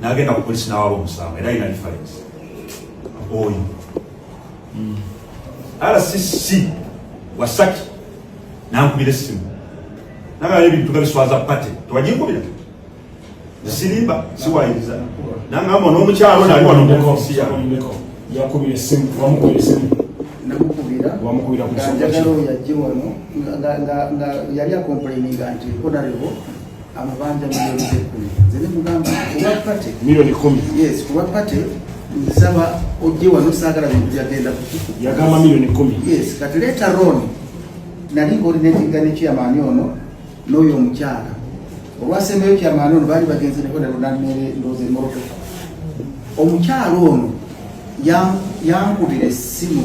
nagenda ku polisi nawaba omusango era ina reference oyo mm. rcc wasaki nankubira essimu nagala ebintu nga biswaza pate tewaginkubira sirimba siwayiriza nangamba n'omukyalo nali wano mukosi yange yakubira essimu wamukubira essimu namukubira wamukubira ku nsonga ki yali akomplaininga nti honorable amabanja milioni ekumi nze ne mugamba kuba pate milioni kumi yes kuba pate nsaba ojje wano saagala bintu byagenda kukiku yagamba milioni kumi yes kati leeta roni nali ng'olina ekiggani kyamaani ono n'oyo omukyala olwasembeyo kyamaani ono baali bagenze neko ne lunamere ndoozi emorotoka omukyala ono yankubira essimu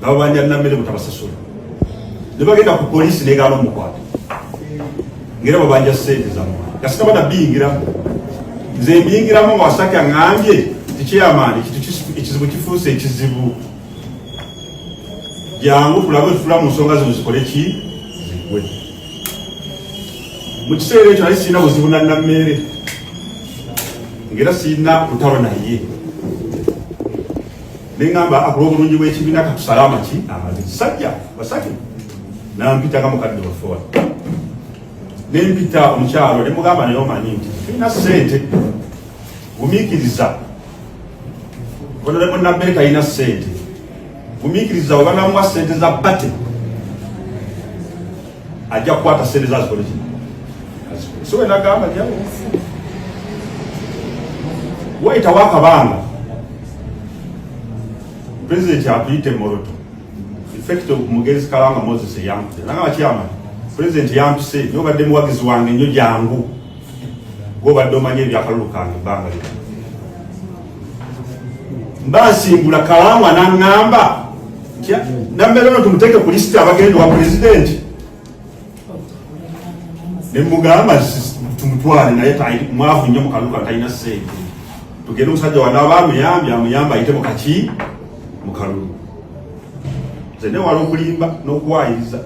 nabo banyanna mmere mutabasasula ne bagenda ku poliisi negaana omukwata ngera babanja sente zamwe kasita bana biyingiramu nze mbiyingiramu nga wasaki aŋambye tikyeyamaani ekizibu kifuuse ekizibu jangu tulabe otutula mu nsonga zino zikole ki zigwe mu kiseera ekyo nali sirina buzibu nannammeere ngera sirina kutalo naye nengamba akula obulungi bw'ekibiina katusale amaki amazi kisajja basatu nampita nga mukadde waffe wano nempita omukyalo ne mugamba naye omanyi nti tulina ssente gumiikiriza onolemu nabere kalina ssente gumiikiriza webanamuwa ssente za bate ajja kukwata sente za zikole kino so wena gamba jawo wayitawo akabanga president akuyite moroto effect of mugenzi kalanga moses eyampise nagamba kyama president yampise nyo obadde muwagizi wange nyo jangu gwobadde omanya ebyakalulu kange ebbanga lino mbasimbula kawangwa naŋŋamba nambeera no tumuteeke ku lisiti abagenda wa pulezidenti nemugamba tumutwale naye mwavu nnyo mukaluka talina sente tugende omusajja wanaaba amuyambye amuyamba ayite mukaki mukalulu nze newala okulimba n'okuwayiriza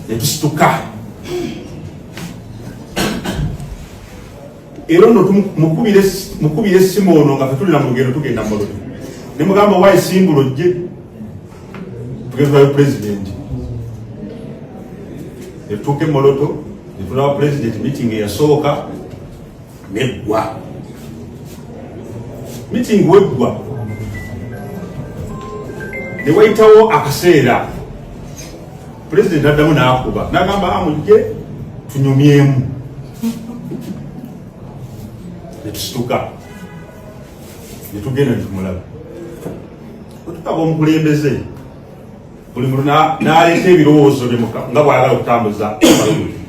netusituka era ono mukubira essimu ono nga fetulira mu lugendo tugenda mu lugendo ne mugamba wayi simbula ojje tugezwayo pulezidenti netutuuka emoloto netulaba pulezidenti meeting eyasooka neggwa meeting weggwa newayitawo akaseera Pulezidenti addamu n'akuba n'agamba amujje ah, tunyumyemu ne tusituka ne tugenda ne tumulaba otukaba omukulembeze buli muntu n'aleeta ebirowoozo bye nga bw'ayagala okutambuza abalulu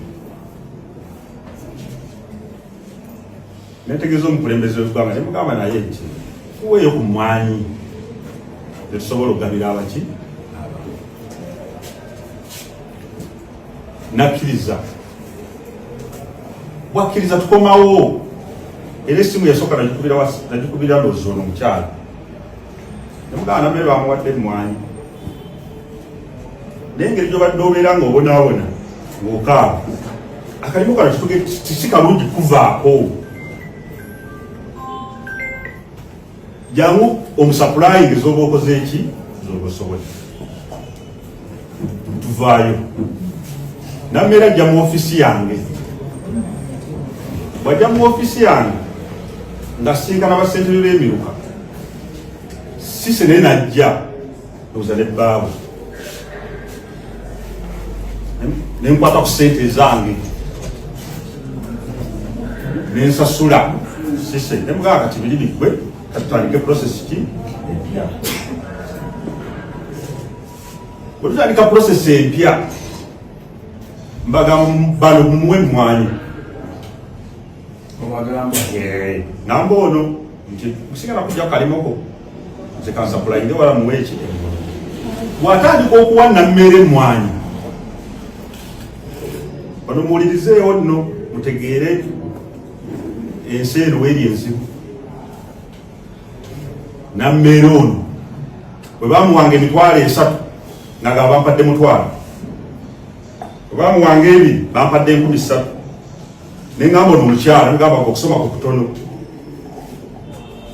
netegeeza omukulembeze wegwanga nemugamba naye nti kuweeyo ku mwanyi netusobola okugabira abaki nakkiriza bwakkiriza tukomawo era esimu yasooka nagikubira loozi ono omukyalo nemugamba namere bamuwadde emwanyi naye ngeri gyobadde obeera nga obonaabona ngaokaaba akalimu kano kituge kiki kalungi kuvaako jangu omusapulayingi zoba okoze eki zoba osobole tuvaayo namera ajja mu ofisi yange bwajja mu ofisi yange nga sinkana basentebe b'emiruka sise naye najja ndoza ne baabu nenkwata ku sente ezange nensasula sise nemugaa kati biri bigwe katutandike process ki empya wetutandika process empya mbaga bano mumuwe mwanyi namba ono nti musigala kuja kalimoko nze kansapulaide wala muweeki watandika okuwa nammere emwanyi ono muwulirizeewo nno mutegeere ensi eno weeri enzibu nammeere ono bwe bamuwanga emitwalo esatu naga bampadde mutwalo bwe bamuwanga ebiri bampadde enkumi ssatu ne ngamba ono mukyala ngamba okusoma ku kutono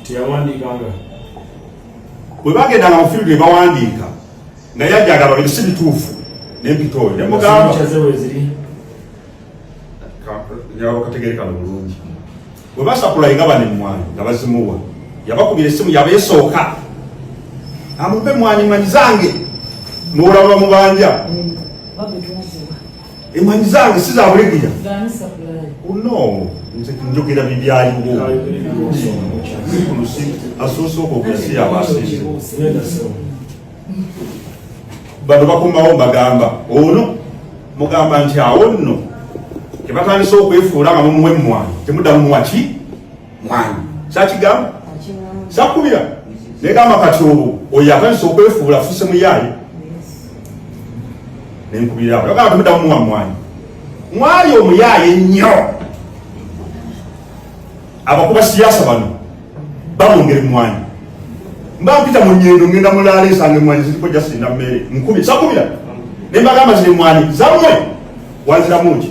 teyawandiikanga bwe bagendanga mu field ne bawandiika naye ajagala bino si bituufu nempita oyo ne mugamba kategerekana bulungi bwe basakulaye nga bane mwanyi nga bazimuwa yabakubira esimu yaba esooka amupe mwanyi manyi zange muwulaba mubanja Emwanyi zange si za bulegeya. Oh, no. Nze njogera bibyaliwo. Zikulusi asoose okwogera si yabasinze. Bano bakomawo bagamba ono mugamba nti awo nno tebatandise okwefuula nga mumuwa emmwanyi temuddamu muwa ki mwanyi sakigamu sakubira negamba kati olwo oyo atandisa okwefuula afuse muyaayi nenkubirira awo yagamba temudamu muwa mwanyi mwanyi omuyaayi ennyo abakuba siyasa bano bamwongera emwanyi mba mpita mu nyendo ngenda mulaala ensanga emwanyi ziriko jasinda mmere nkubira sakubira nembagamba ziri emwanyi zamwe wanziramu ki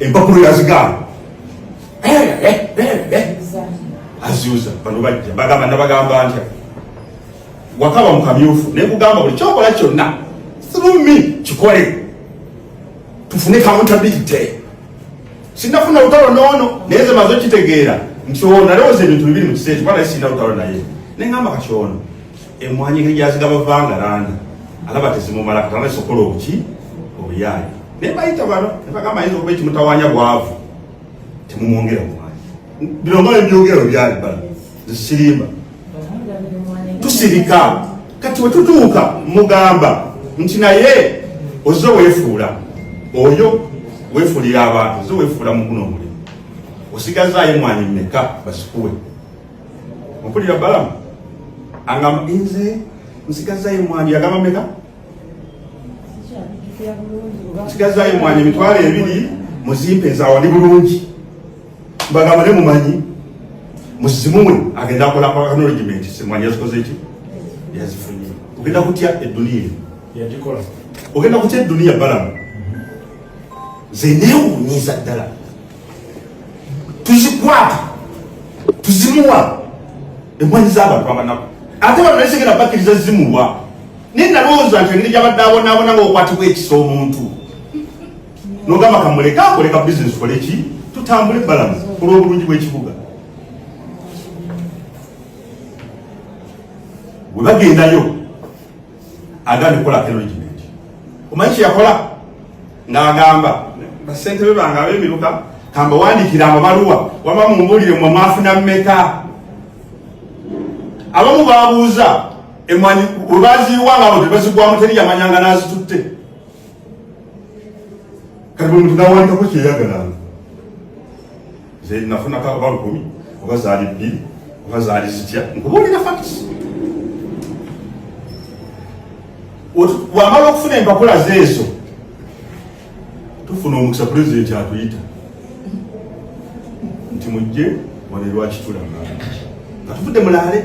empapuro yazigaana aziuza bano bajja bagamba nabagamba ntya wakaba mukamyufu nekugamba buli kyokola kyonna through me kikole tufune accountability sinafuna lutalo noono naye ze maze okitegeera nti ono alowooza ebintu bibiri mu kiseera kikuba naye sirina lutalo naye nengamba kati ono emwanyi engeri gyazigaba vanga landi alaba tezimumala katana sokola obuki obuyaayi naye bayita bano nebagamba ayinza okuba ekimutawanya bwavu temumwongera mwanyi bino mala ebyogera obyali bala zisirimba tusirika kati wetutuuka mugamba nti naye oze wefuula oyo wefuulira abantu oze wefuula muguno omulimu osigazaayo mwanyi meka basikuwe mpulira balamu angamba nze nsigazayo mwani yagamba meka nsigazayo mwani emitwalo ebiri muzimpe nzawani bulungi mbagamba ne mumanyi muzimuwe agenda akola acknowledgement semwanyi yazikoze ki yazifunye ogenda kutya eduniya yagikola ogenda kutya eduniya balamu nze newunyiza ddala tuzikwata tuzimuwa emwanyi zabantu abanaku ate bano naisegera bakiriza zimuwa naye nalowooza nti engeri gyabadde abonaabona ngaokwatibwa ekisa omuntu nogamba kamuleka akoleka bizinesi kole ki tutambule balamu olwobulungi bwekibuga webagendayo agambye okukolako enrichment omanyi kyeyakola ng'agamba basentebe bange ab'emiruka kambawandiikira amabaluwa waba mumbuulire mwe mwafuna mmeka abamu babuuza emwanyi webaziiwa nga abo tebazigwamu teri yamanyanga n'azitutte kati buli muntu nawandikako kyeyagalanga nze nafunako oba lukumi oba zaali bbiri oba zaali zitya nkubuulira fakisi wamala okufuna empapula zeezo tufuna omukisa pulezidenti atuyita nti mujje wano erwakitulanga nga tuvudde mulaale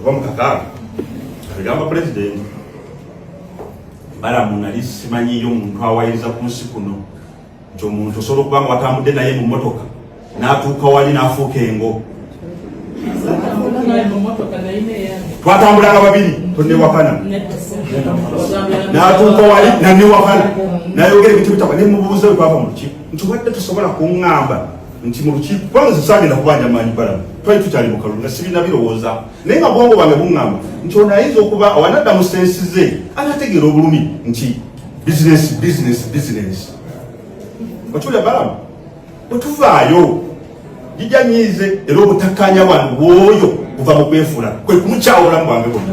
oba mukakaaba agamba pulezidenti balamu nali simanyiyo omuntu awayiriza ku nsi kuno nti omuntu osobola okuba nga watambudde naye mu motoka n'atuuka wali n'afuuka engo twatambulanga babiri tonewakana n'atuuka wali nanewakana nayogera ebintu bitaba ne mubuuza bwe twava mu lukiiko nti wadde tusobola kuŋŋamba nti mu lukiiko kubanga nze sagenda kubanja maanyi balamu twali tukyali mu kalulu nga sibirina birowooza naye nga bwongo bwange buŋŋamba nti ono ayinza okuba awanadda mu sensi ze anategeera obulumi nti bizinesi bizinesi bizinesi okiwulira balamu bwe tuvaayo jija nyiize era obutakkaanya bwange bwoyo buva mu kwefuula kwe kumukyawulamu bwange bwonna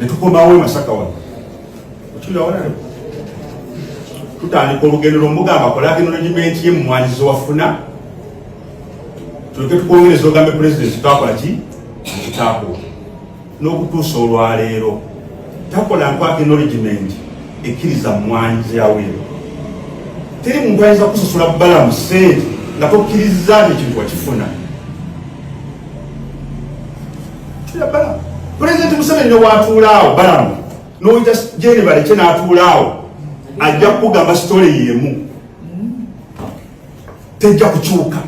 ne tukomawo emasaka wano okiwulawona tutandika olugendo lwomugamba kola agenolejimenti ye mumwanyi zewafuna tuleke tukwongereza ogambe pulezidenti twakola ki ekitakuwa n'okutuusa olwaleero takola nkwaka enoligimenti ekkiriza mumwanyi zeyawero teri muntu ayinza kusasula balamu sente nga tokkirizza nekintu wakifuna pulezidenti museveni newatuulaawo balamu noyita jeni balekye n'atuulaawo ajja kukugamba sitole yemu tejja kukyuka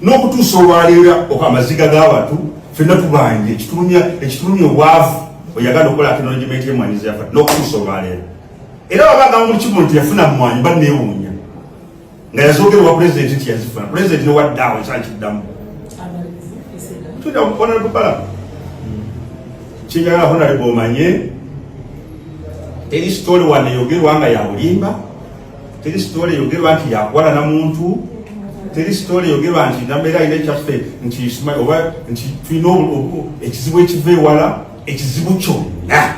n'okutuusa olwaleera oka amaziga g'abantu fenna tubanja ekitulumya ekitulumya obwavu oyagala okukola acknowledgement y'emwanyizi yafa n'okutuusa olwaleero era wabagamba mu kimu nti yafuna mwanyi banneewuunya nga yazoogerwa pulezidenti nti yazifuna pulezidenti newaddaawo ekyakiddamu tudakukonalukala kyenjagala honale bomanye teri sitole wano eyogerwa nga yabulimba teri sitole eyogerwa nti yakwala na muntu teri sitole eyogerwa nti nambeera alina ekyaffe nti oba nti tulina ekizibu ekiva ewala ekizibu kyonna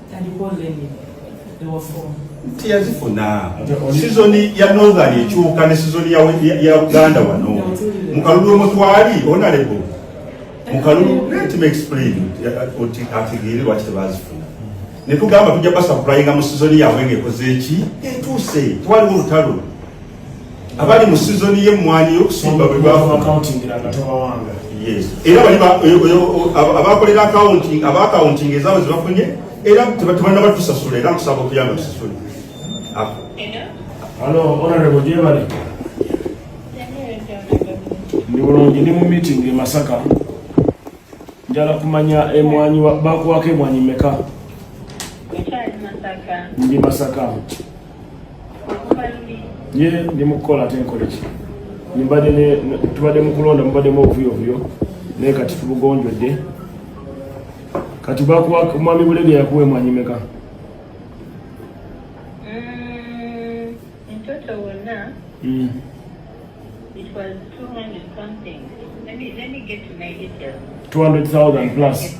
nti yazifuna sizoni ya northern ekyuka ne sizoni ya uganda wano mukalulu omutwali onalebo mukalulu let me explain oti ategeere lwaki tebazifuna netugamba tujja basapulainga mu sizoni yabwe ngaekoze eki etuuse twaliwo olutalo abali mu sizoni y'emmwanyi y'okusimba bwe bwafunaakawuntingirangatobawanga era bali abakolera akawunti abaakawuntinga ezaabwe zebafunye era tebanna batusasula era nkusaba okuyamba tusasule alo onarebo gyebali ndi bulungi ndi mu meeting e masaka njala kumanya emwanyi bakuwako emwanyi meka ndi masaka ye ndi mukukola ate nkoleki tubadde mukulonda mubaddemu obuvuyovuyo naye kati tubugonjodde kati mwami bulege yakuwa emwanyi meka mtoto mm, wonna mm. it was 200 something let me, let me get to my details 200,000 plus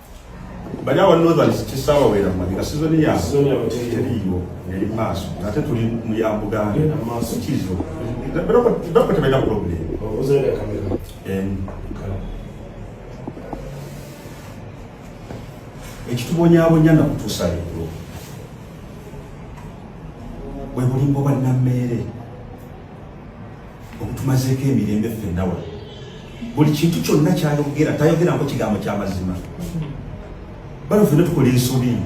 banyaba northern kisaba wera mali nga season ya season ya teriyo yali maaso ate tuli mu ya buganda maaso kizo bero bero tebenda problem obuze ya kamera en ekitubonyabonya na kutusa leero bwe bulimbo bwa nammeere okutumazeeko emirembe ffenna wa buli kintu kyonna kyayogera tayogerako kigambo kyamazima bano ffenna tukola ensobi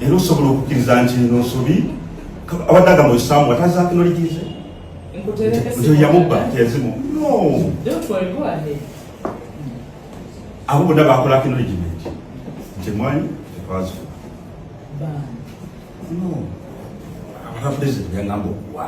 era osobola okukkiriza nti eno nsobi abadde agamba osaamu watazakinoligize nti yamubba teyazimu no abo bonna bakola acknowledgement nti emwanyi tetwazifuna no abatafudezebyangamba okuwa